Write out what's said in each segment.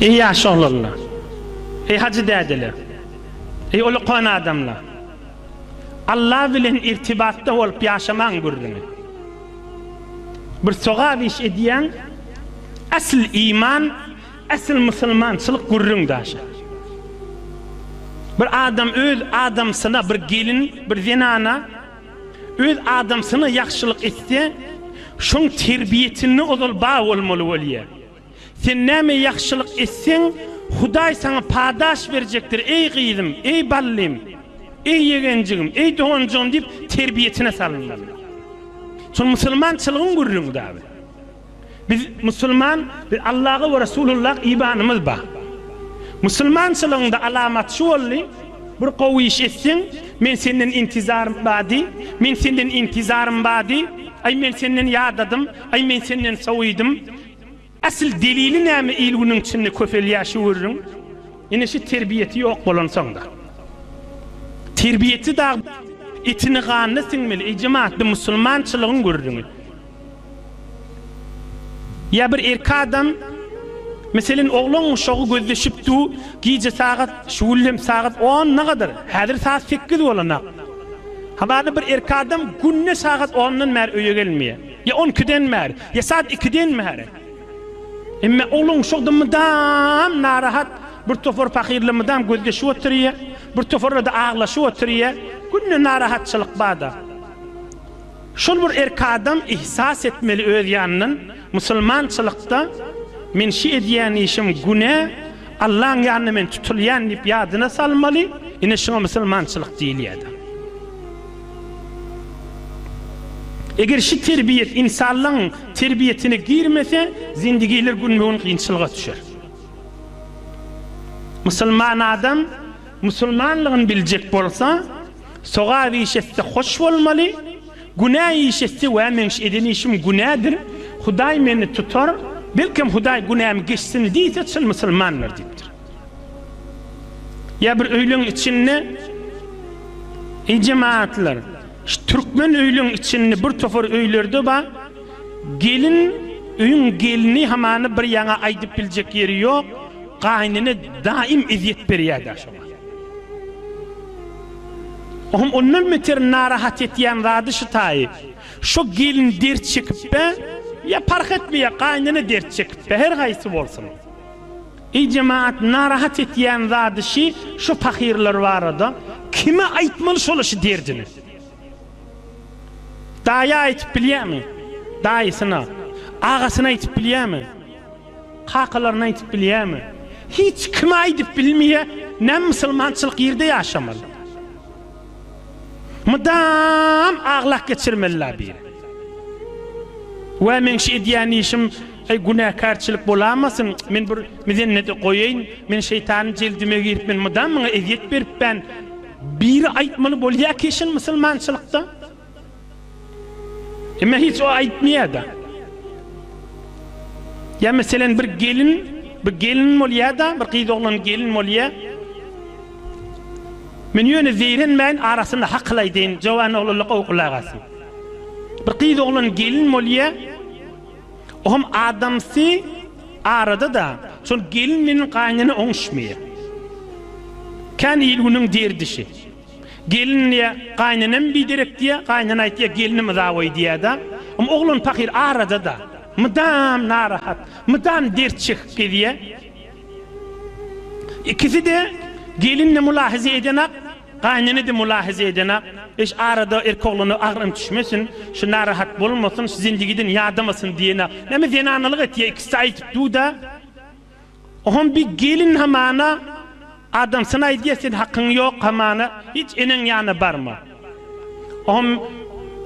Eý, ýaş oglanlar! Eý, hajy dädeler! Eý, ulukan adamlar! Alla bilen irtibatda bolup ýaşamaň gürrüňi. Bir sogap iş edýäň, esl iman, esl musulmançylyk gürrüň daşa. Bir adam öz adamsyna, bir gelin, bir zenana, Öz adamsyna ýagşylyk etse, şoň terbiýesinde ozal bar bolmaly bolýar. Sen näme ýagşylyk etseň, Hudaý saňa padaş berjekdir, eý gyzym, eý ballym, eý ýegenjigim, eý doganjygym diýip terbiýesine salynmaly. Şol musulmançylygyň gürrüňi dagy. Biz musulman, biz Allaha we Resulullah ibanymyz bar. Musulmançylygyňda alamat şu boldy, bir gowy iş etseň, men senden intizarym bar diý, men senden intizarym bar diý, aý men senden ýadadym, aý men senden sowidim. Asyl delili näme il-günüň içinde köpelýär şu gürrüň. Ine şu terbiýesi ýok bolansoňda. Terbiýesi dagy etini-ganyna siňmeli, ejem atly musulmançylygyň gürrüňi. Ýa bir erkek adam, meselen, oglan uşagy gözleşip du, gije sagat, şu gün hem sagat on nagadar, häzir sagat sekiz bolanak. Hamana bir erkek adam günde sagat ondan bäri öýe gelmeýär. Ýa on ikiden bäri, ýa sagat ikiden bäri. Emma oglan uşakda mydam narahat, bir topar pahyrla mydam gözleşip oturýa, bir toparla-da aglaşyp oturýa, günde narahatçylyk bar-da. Şol bir erki adam ihsas etmeli öz ýanyndan, musulmançylykda men şi edýän işim günä, Allaň ýanynda men tutulýan diýip ýadyna salmaly, ine şuňa musulmançylyk diýilýäda. Eger şi terbiýet insanlygyň terbiýetine girmese, zindigiler günbe-gün kynçylyga düşer. Musulman adam Musulmanlygyny biljek bolsa, sogap iş etse hoş bolmaly, günä iş etse, wä meň eden işim günädir, Hudaý meni tutar, belkem Hudaý günämi geçsin diýse çyn musulmandyr diýipdir. Ýa bir öýleň içinde Eý jemagatlar, şu türkmen öýleň içinde bir topar öýlerde bar, gelin öýüň gelini hamany bir ýaňa aýdyp biljek ýeri ýok, Gaýnene daýym ezýet berýädä şoňa. Ohm ondan beter narahat etýän zady şu taýy. Şo gelin dert çekipbe, ýa parh etmeýär gaýnene dert çekipbe, her haýsy bolsun. Eý jemaat narahat etýän zady şi şu pahyrlar barada kime aýtmaly şola şu derdini. Daýa aýtyp bilýämi? Daýysyna. Agasyna aýtyp bilýämi? Kakalaryna aýdyp bilýämi? Hiç kime aýdyp bilmeýä, näme musulmançylyk ýerde ýaşamaly. Mydam aglak geçirmeli la bir. Wä meň şu edýän işim eý günäkärçilik bolamasyn, men bir mizennede goýaýyn, men şeýtanyň jeldime giripmen, mydam maňa ezýet beripän, biri aýtmaly bolýa keşin musulmançylykda. Emma hiç o aýtmaýar-da. Ýa meselen bir gelin, bir gelin bolýar-da, bir gyz oglan gelin bolýar. Men ýöne zeýrenmäýin arasynda hakyl aýdaýyn, jowan oglanlar gowy gulak asyn. Bir gyz oglan gelin bolýar. O hem adamsy arada-da, şol gelin bilen gaýynene oňuşmaýar. Kän il-günüň derdişi. Gelin diýýä, Gaýnenem biderek diýýä, gaýnene aýtýa, Gelinim yzaboý diýýä-de. Ym oglan pahyr arada-da. Mydam narahat, mydam dert çekip gezýä. Ikisi-de gelin-de mylahaza edenak, gaýnene-de mylahaza edenak. Eş arada erkek oglana agyrym düşmesin, şu narahat bolmasyn, şu zendigiden ýadamasyn diýenak. Näme zenanalyk etýä, ikisi-de aýdyp dur-da. Ohom bir gelin hamana adamsyny aýdýar, sen hakyň ýok, hamana hiç eneň ýana barma. Ohom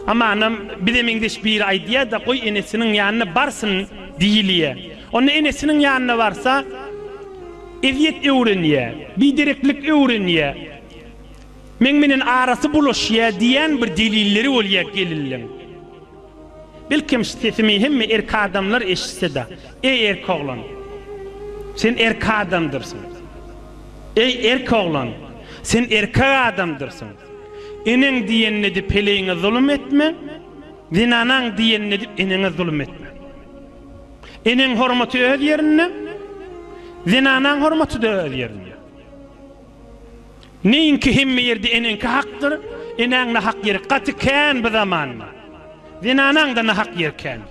hamanam bize meňzeş biri aýdýar-da, goý enesiniň ýanyna barsyn diýilýär. Onda enesiniň ýanyna barsa, ezýet öwrenýär, bidereklik öwrenýär, meň bilen arasy bulaşýar diýýän bir delilleri bolýar gelinliň. Belkem, sesimi hemme erk adamlar eşitse-de, Eý, erk oglan! Sen erk adamdyrsyň. Eý, erk oglan! Sen erkek adamdyrsyň. Eneň diýenini edip heleýiňe zulum etme, zenanaň diýenini edip eneňe zulum etme. Eneň hormaty öz ýerinde, zenanaň hormaty-da öz ýerinde. Neýinki hemme ýerde eneňki hakdyr, enäň nahak ýeri gaty kän bu zamanda. Zenanaň-da nahak ýeri kän.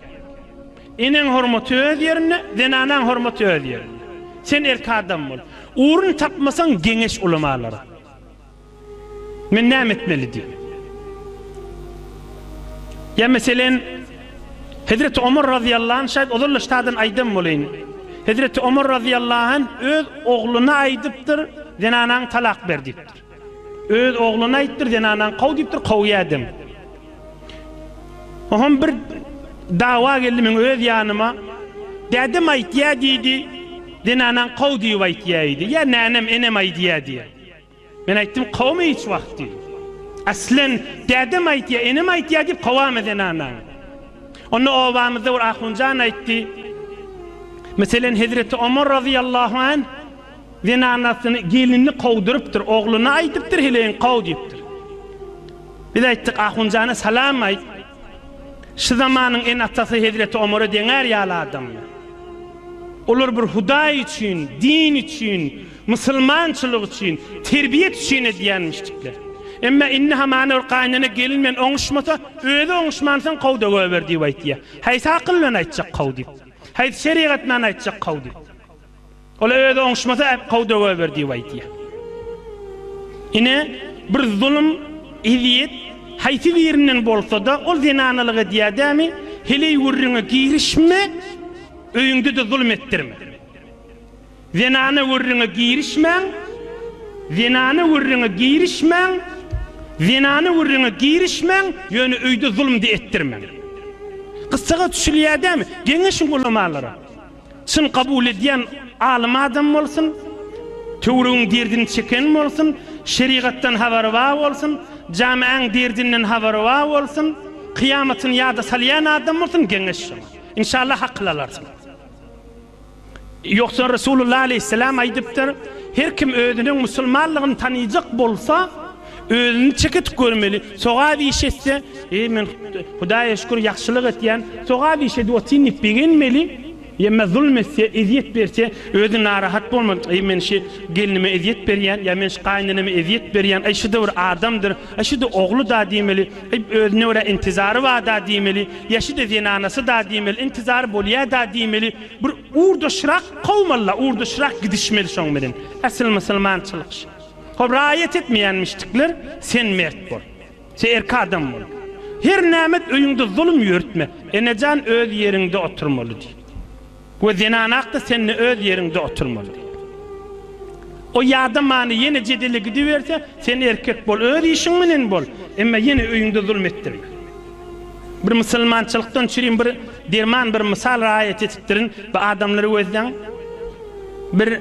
Eneň hormaty öz ýerinde, zenanaň hormaty öz ýerinde. Sen erki adam bol. Urun tapmasaň geňeş ulamalara. Men näme etmeli diýip. Ýa meselen. Hezreti Omar razyýallahu anh şaýat ozal-da ştadan aýdan boleýin. Hezreti Omar razyýallahu anh öz ogluna aýdypdyr, Zenanaňy talak ber diýipdir. Öz ogluna aýtdyr, Zenanaňy kow diýipdir, kowýädem. Oham bir dawa geldi meň öz ýanyma. Dädem aýtýa diýdi, Zenanaňy kow diýip aýtýa-eýdi. Ýa nänem, enem aýdýa diýýä. Men aýtdym, Kowma hiç wagt diýdim. Aslen, dädem aýtýar, enem aýtýar diýip kowama zenanaňy. Onda obamyzda bir ahunjan aýtdy, Meselen, hezreti Omar razyýallahu anh zenanasyny, gelinini kowdurypdyr, ogluna aýdypdyr, heleýiňi kow diýipdir. Biz aýtdyk, Ahunjana salam aýt. Şu zamanyň ene-atasy hezreti Omara deňär ýaly adamlar. Olar bir Hudaý üçin, din üçin Musulmançylyk üçin, terbiýet üçin edýän müşdikler. Emma indi hamana bir gaýynene gelin bilen oňuşmasa, özi oňuşman soň kow-da goýber diýip aýtýar. Haýsy akyl bilen aýtjak kow diýip? Haýsy şerigat bilen aýtjak kow diýip? Ol-a özi oňuşmasa, kow-da goýber diýip aýtýar. Ine, bir zulum, ezýet haýsy birinden bolsa-da, ol zenanalyk edýär dämi, heleý gürrüňe girişme, öýüňde-de zulum etdirme. Zenana gürrüňe girişmäň, zenana gürrüňe girişmäň, zenana gürrüňe girişmäň, ýöne öýde zulumdy etdirmäň. Gyssaga düşülýär dämi? Geňeşiň ulamalara. Çyn kabul edýän alym adam bolsun, töwregiň derdini çeken bolsun, şerigatdan habary bar bolsun, jamaäň derdinden habary bar bolsun, kyýamatyny ýada salýan adam bolsun, geňeş şoňa. Inşallah akyl alarsyň. Ýogsa Resulullah aleýhissalam aýdypdyr, Her kim özüniň musulmanlygyny tanaýjak bolsa, özüni çeketik görmeli, sogap iş etse, Eý, men Hudaýa şükür, ýagşylyk etýän, sogap iş edip otyryn diýip begenmeli, ýa-da zulum etse, ezýet berse, özi narahat bolmaly, Eý, men şu gelnime ezýet berýän, ýa men şu gaýyneneme ezýet berýän, eý, şu-da bir adamdyr, eý, şu-da ogly-da diýmeli. Ib özüne görä intizary barda diýmeli, ýaşyda zenanasy-da diýmeli, intizary bolýa-da diýmeli, bir urdaşrak kowmaly-la, urdaşrak gidişmeli şoň bilen. Asyl musulmançylyk şu. Hop raýat etmeýänmişdikler, sen mert bol. Sen erk adam bol. Her nämet öýüňde zulum ýörütme. Enejan öz ýeriňde oturmaly diýip. We zenanakda sende öz ýeriňde oturmaly diýip. O ýada many ýene jedele gidiberse, sen erkek bol, öz işiň menen bol, emma ýene öýüňde zulm etdirme. Bir musulmançylykdan çürin bir derman bir mysal raýat etipdirin, bu adamlary gözleň. Bir.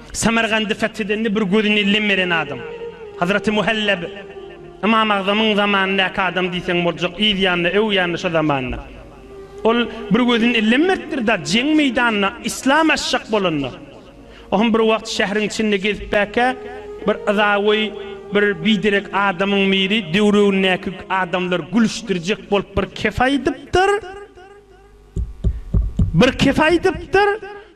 Samargandy fethedende bir gözüni ellem beren adam. Hazraty Muhallab Ymam Agzamyň zamanyndaky adam diýseň boljak, yz ýanynda, öw ýanynda şo zamanlar. Ol bir gözüni ellem beripdir da, jeň meýdanyna yslam açjak bolanda. O hem bir wagt şähriň içinde gezipbäkä, bir yzagoý bir biderek adamyň biri döwrebindäki adamlary gülüşdirjek bolup bir kep aýdypdyr. Bir kesi aýdypdyr,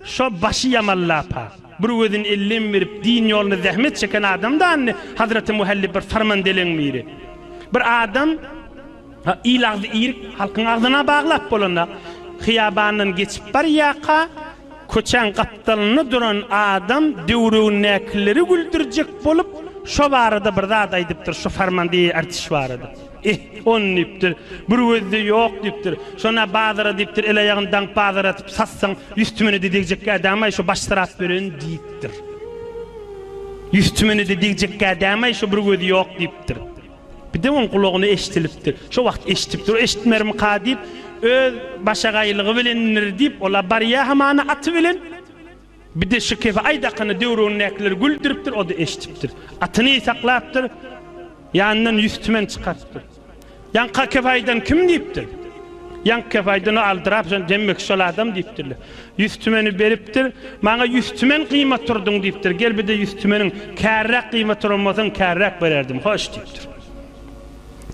Şo başy ýaman lapa, bir gözüni ellem berip, din ýolunda zähmet çeken adam dany, Hazreti Muhallib bir sarman deleň biri. Bir adam il agzy irik halkyň agzyna baglap bolanda, hyýabandan geçip barýarka, Köçäň gapdalynda duran adam döwregindäkileri güldürjek bolup, şo barada bir zat aýdypdyr, şu Farmandiýe artiş barada. Ih, on diýipdir, bir gözde ýok diýipdir. Şon-a bazara diýipdir, el-aýagyny daňyp bazar atyp satsaň, ýüz tümene-de degjekkä dämaý, şo baş syrap beren diýipdir. Ýüz tümene-de degjekkä dämaý, şo bir gözi ýok diýipdir. Birden oň gulagyna eşdilipdi. Şo wagt eşdipdir, eşitmermika diýip, öz başagaýlygy bilendir diýip, ol-a barýa hamana aty bilen. Bir-de şu kefe Aýdakyny döwründäkiler güldüripdir, o-da eşdipdir. Atyny ysaklapdyr, ýanyndan ýüz tümen çykarypdyr. Ýaňka kefe aýdan kim diýipdir. Ýaňky kefe aýdan o aldyrap, jan, demmek şol adam diýipdirler. Ýüz tümeni beripdir. Maňa ýüz tümen gyýma turduň diýipdir. Gel bir-de ýüz tümeniň kärräk gyýma turan bolsaň kärräk bererdim. Hoş diýipdir.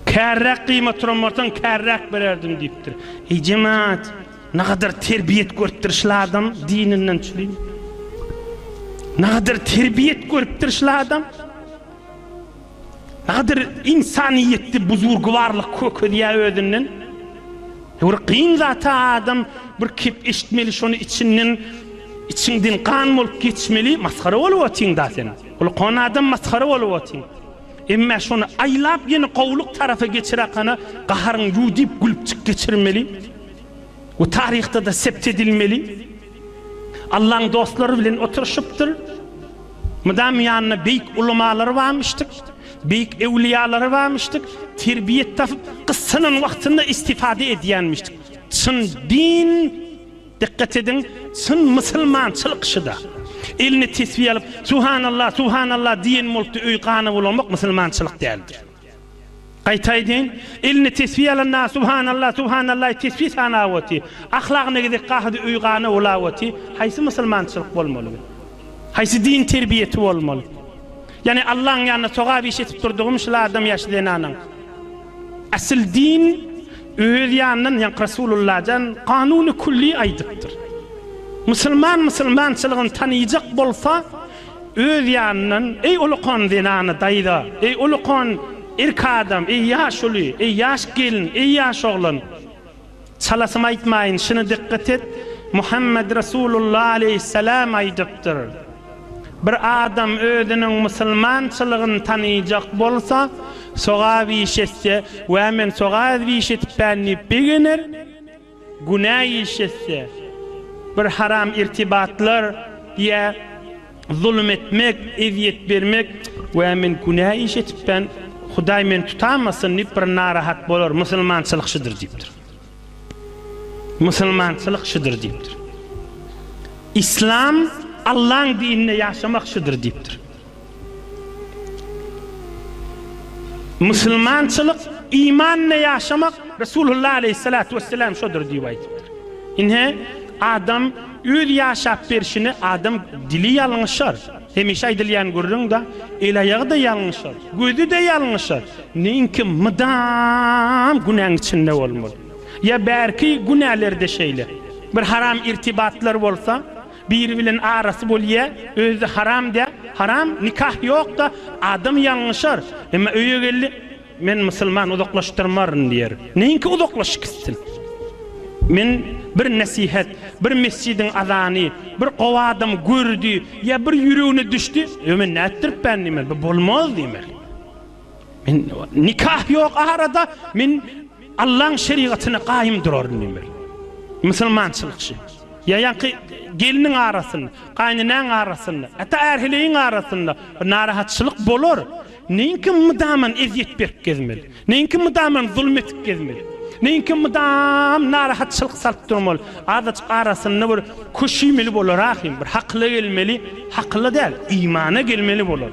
Kärräk gyýma turan bolsaň kärräk bererdim diýipdir. Eý jemaat, nagadar terbiýet görüpdir şul adam dininden çülim. Nagadar terbiýet görüpdir şul adam. Nagadyr ynsanyýetli buzurgybarlyk kökezýär özünden. Ýöwür kyn zata adam bir kep eşitmeli şony içinden içiňden gan bolup geçmeli masgara bolup otyň da sen. Gulkon adam masgara bolup otyň. Emme şony aýlap ýene gowulyk tarapa geçirakana gaharyň ýu diýip gülüpjik geçirmeli. Bu taryhda da sept edilmeli. Allaň dostlary bilen oturyşypdyr. Mydam ýanynda beýik ulamalary barmyşdyk, beýik ewliýalary barmyşdyk. Terbiýe tapyp, gyssanan wagtynda istifade edýänmişdik. Çyn din, dikkat ediň, çyn musulmançylyk şuda. Eline tesbi alyp, Subhanallah, Subhanallah diýen bolupdy, öý gana bulamak musulmançylyk däldir. Gaýta aýdaýyn, eline tesbi alan na subhanalla, subhanallaý tesbi sanap oty, ahlagyna gezek gahydy öý gana bulap oty, haýsy musulmançylyk bolmaly bu? Haýsy din terbiýesi bolmaly? Ýani Allaň ýanynda sogap iş etip durdygym şul adam ýaşy zenanaň. Asyl din öz ýanyndan ýank Rasulullajan kanuny kulli aýdypdyr. Musulman musulmançylygyny tanyjak bolsa Öz ýanyndan, Eý, ulukan zenany daýza, eý, ulukan erk adam, eý, ýaş uly, eý, ýaş gelin, eý, ýaş oglan! Çalasym aýtmaýyn, şuny dykgat et, Muhammet Resulullah aleýhissalam aýdypdyr, Bir adam özüniň musulmançylygyny tanaýjak bolsa, sogap iş etse, Wä, men sogap iş etipän diýip begener, Günä iş etse, bir haram irtibatlar ýa zulum etmek, ezýet bermek, Wä, men günä iş etipdän, Hudaý meni tutamasyn diýip bir narahat bolar, musulmançylyk şudur diýipdir. Musulmançylyk şudur diýipdir. Yslam, Allaň dininde ýaşamak şudur diýipdir. Musulmançylyk imanla ýaşamak Resulullah aleýhissalatu wesselam şodur diýip aýdypdyr. Ine, adam öz ýaşap berşini adam dili ýalňyşar. Hemişe aýdylýan gürrüň-de, el-aýagy-da ýalňyşar, gözi-de ýalňyşar. Neýinki mydam günäň içinde bolmaly. Ýa bärki günäler-de şeýle. Bir haram irtibatlar bolsa, Biri bilen arasy bolýa özde haram dä haram nikah ýokda adam ýalňyşar emma öýe geldi men musulman uzaklaşdyrmaryn diýer neýinki uzaklaşyk gitsin men bir nesihet bir mesjidiň azany bir gowy adam gördi ýa bir ýüregine düşdi ýo men nätdiripän diýmeli bu bolmaz diýmeli. Men nikah ýok arada men Allaň şerigatyna gaýym duraryn diýmeli. Musulmançylyk şi. Ýa ýaňky gelniň arasynda, gaýynenäň arasynda, hatda ärheleýiň arasynda bir narahatçylyk bolar. Neýinki mydaman ezýet berip gezmeli? Neýinki mydaman zulum edip gezmeli? Neýinki mydam narahatçylyk salyp durmaly? Azajyk arasynda bir köşüýmeli bolar ahym, bir hakyla gelmeli, hakyla däl, imana gelmeli bolar.